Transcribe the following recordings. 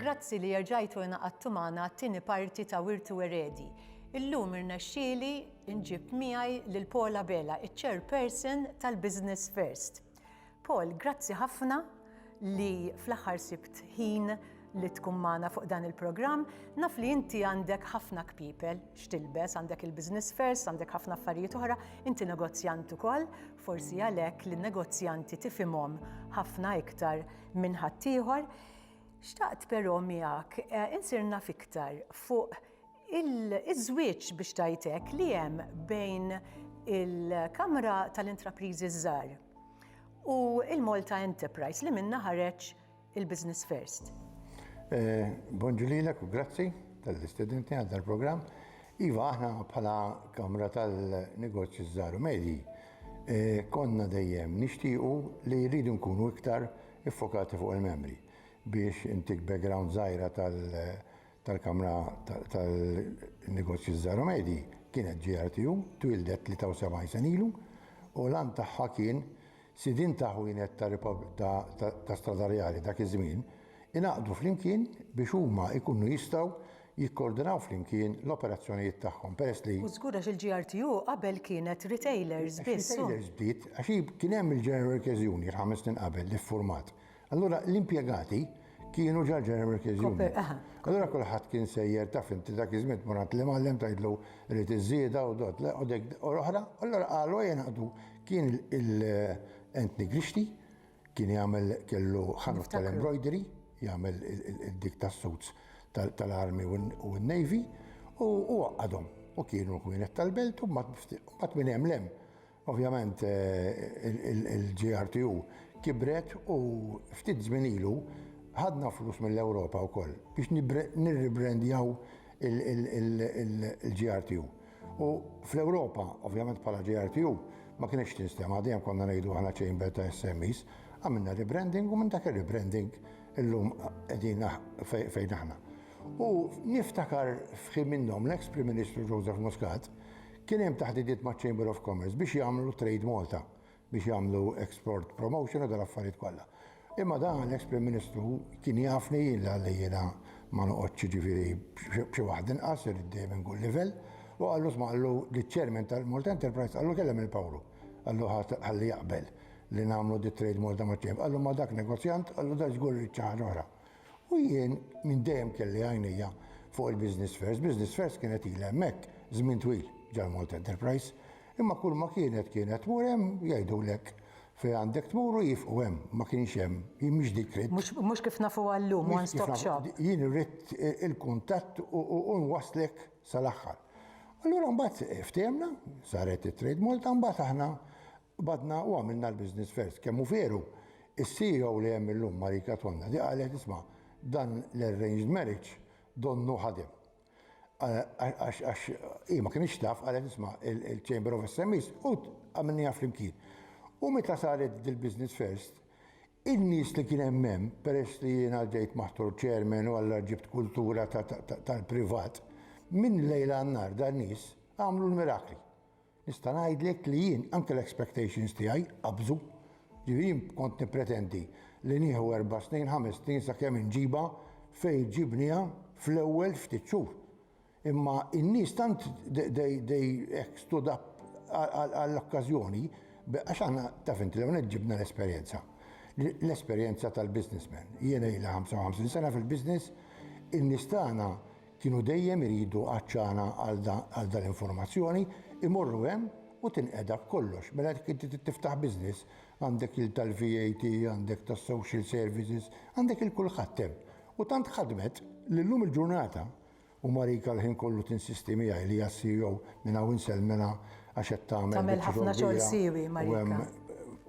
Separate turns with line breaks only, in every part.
Grazzi li jerġajtu inaqadtu magħna t-tieni parti ta' Wirtu Eredi. Illum irnexxieli nġib miegħi lil Paula Bela, iċ-chairperson tal-Business First. Paul, grazzi ħafna li fl-aħħar sibt ħin li tkun magħna fuq dan il-programm. Naf li inti għandek ħafna kpipel x'tilbes, għandek il-business first, għandek ħafna affarijiet oħra, inti negozjant ukoll, forsi għalhekk li negozjanti tifimhom ħafna iktar minn ħaddieħor. Xtaqt però miegħek eh, insirna fiktar fuq il-żwieġ biex tajtek li hemm bejn il-Kamra tal-Intrapriżi Żgħar u il-Malta Enterprise li minnha ħareġ il-Business First. Eh,
Bonġu lilek u grazzi tal-istudenti għal dal-programm. Iva, aħna bħala Kamra tal-Negozju Żaru Medji, eh, konna dejjem nixtiequ li rridu nkunu iktar iffokati fuq il-membri biex intik background żgħira tal-Kamra tal-Negozji Żgħar u Medji kienet GRTU, twieldet 73 sena ilu u l-għan tagħha kien sidien ta' ħwienet ta' stradarjali dak iż-żmien ingħaqdu flimkien biex huma jkunu jistgħu jikkoordinaw flimkien l-operazzjonijiet tagħhom peress li U żgur għax il-GRTU
qabel kienet retailers biss u. Retailers bdiet għax hi
kien hemm il-General Workers' Union ħames snin qabel li ffurmat Allura l-impjegati kienu ġa ġeneral workers union. Allura kulħadd kien sejjer taf inti dak iż-żmien tmur għand l-imgħallem tgħidlu rrid iż-żieda u dot le u dik u l-oħra, allura qalu ejja naqdu. Kien il-Anthony Grixti kien jagħmel kellu ħanut tal-embroidery, jagħmel dik tas-suits tal-army u n-navy u għaqqadhom u kienu kienet tal-belt u mbagħad minn hemm l-hemm. Ovvjament il-GRTU kibret u ftit żmien ilu ħadna flus mill-Ewropa wkoll biex nirribrendjaw il-GRTU. U fl-Ewropa, ovvjament bħala GRTU, ma kinitx tinstema', dejjem konna ngħidu aħna chamber ta' SMEs. Għamilna rebranding u minn dak ir-rebranding illum qegħdin fejn aħna. U niftakar f'ħin minnhom l-eks Prim Ministru Joseph Muscat Kien hemm taħdidiet maċ-Chamber of Commerce biex jagħmlu Trade Malta, biex jagħmlu export promotion u dal-affarijiet kollha. Imma dan l-eks Prim Ministru kien jafni jien li għalli jiena ma noqgħodx jiġifieri b'xi waħda inqas irrid dejjem inkun livell u qallu sma' qallu liċ-Chairman tal-Malta Enterprise qallu kellem lil Pawlu. Qallu ħalli jaqbel li nagħmlu di Trade Malta maċ-Chamber. Qallu ma dak negozjant, qallu da żgur irid xi ħaġa oħra. U jien minn dejjem kelli għajnejja fuq il-Business First. Business First kienet ilha hemmhekk żmien twil ġall-Malta Enterprise. Imma kulma kienet, kienet tmur hemm jgħidulek fejn għandek tmur u jiefqu hemm. Ma kienx hemm, jien mhix dik ridt. Mhux kif nafuha
llum, one stop shop. Jien ridt
il-kuntatt u nwasslek sal-aħħar. Allura mbagħad ftehimna, saret it-Trade Malta, mbagħad aħna Qbadna u għamilna l-business first. Kemm hu veru, is-CEO li hemm illum, Marie Katwanda, li qalet, isma', dan l-arranged marriage donnu ħadem. Għax hi ma kinitx taf, qalet, isma', il-Chamber of SMEs u għamilniha flimkien. U meta saret dil-business first, in-nies li kien hemm hemm, peress li jiena ġejt maħtur chairman u allura ġibt kultura tal-privat, minn lejl għan-nhar dan-nies għamlu l-mirakli. Nista' ngħidlek li jien anke l-expectations tiegħi qabżu. Ġifieri jien kont nippretendi li nieħu erba' snin, ħames snin sakemm inġibha fejn ġibnieha fl-ewwel ftit xhur. Imma n-nies tant they hekk stood up għall-okkażjoni għax aħna taf int l-ewwel nett ġibna l-esperjenza. L-esperjenza tal-businessman. Jiena ilha 55 sena fil-business, in-nies tagħna Kienu dejjem iridu għatxana għal dal-informazzjoni, imorru hemm u tinqeda b'kollox. Mela jekk inti trid tiftaħ business, għandek il tal-VAT, għandek tas-social services, għandek il kulħadd hemm. U tant ħadmet li llum il-ġurnata, u Marika l-ħin kollu tinsisti miegħi li hija CEO minn hawn insellmilha għax qed tagħmel Tagħmel ħafna xogħol siewi
Marika.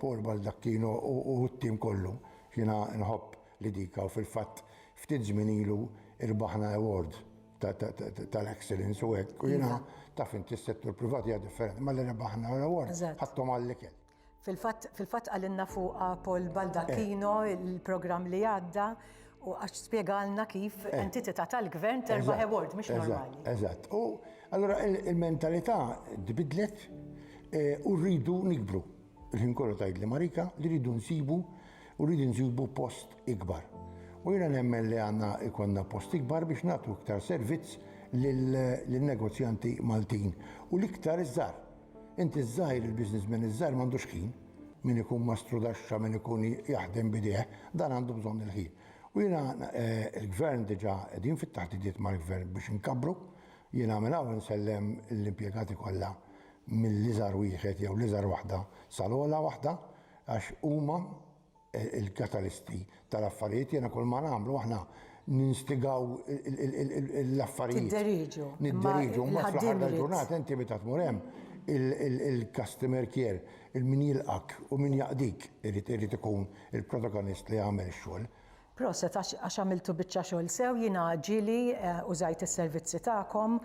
Paul
Baldacchino u t-tim kollu. Jiena nħobb Lidica u fil-fatt ftit żmien ilu irbaħna award tal-excellence u hekk u jiena taf inti s-settur privat hija differenti malli rebaħna l-award ħadthom għall-ikel. Fil-fatt
qalilna fuqha Paul Baldacchino l-programm li għadda u għax spjegalna kif entitità tal-Gvern terbaħ award mhux normali. Eżatt. U
allura l-mentalità tbiddlet u rridu nikbru. Il-ħin kollu tgħidli Marika li rridu nsibu u rridu nsibu post ikbar. U jiena nemmen li għandna ikonna post ikbar biex nagħtu iktar servizz lin-negozjanti Maltin u l-iktar iż-żgħar. Inti ż-żgħir, il-businessman iż-żgħir m'għandux ħin. Min ikun mastru daxxa, min ikun jaħdem b'idejh, dan għandu bżonn il-ħin. U jiena l-Gvern diġà qegħdin fit-taħdidiet mal-Gvern biex inkabbru. Jiena minn hawn insellem lill-impjegati kollha mill-iżgħar wieħed jew l-iżgħar waħda sal-ogħla waħda għax huma l-katalisti tal-affarijiet. Jiena kull ma nagħmlu aħna ninstigaw l-affarijiet. Tidderieġu. Nidderieġu. Ma fl-aħħar tal-ġurnata inti meta tmur hemm il-customer care, il-min jilqgħek u min jaqdik irid ikun il-protagonist li jagħmel ix-xogħol. Proset għax
għax għamiltu biċċa xogħol sew jiena ġieli użajt is-servizzi tagħkom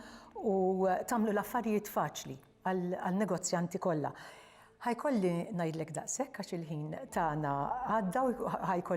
u tagħmlu l-affarijiet faċli għal negozjanti kollha. Ħa jkolli ngħidlek daqshekk għax il-ħin tagħna għadda u ħa jkolli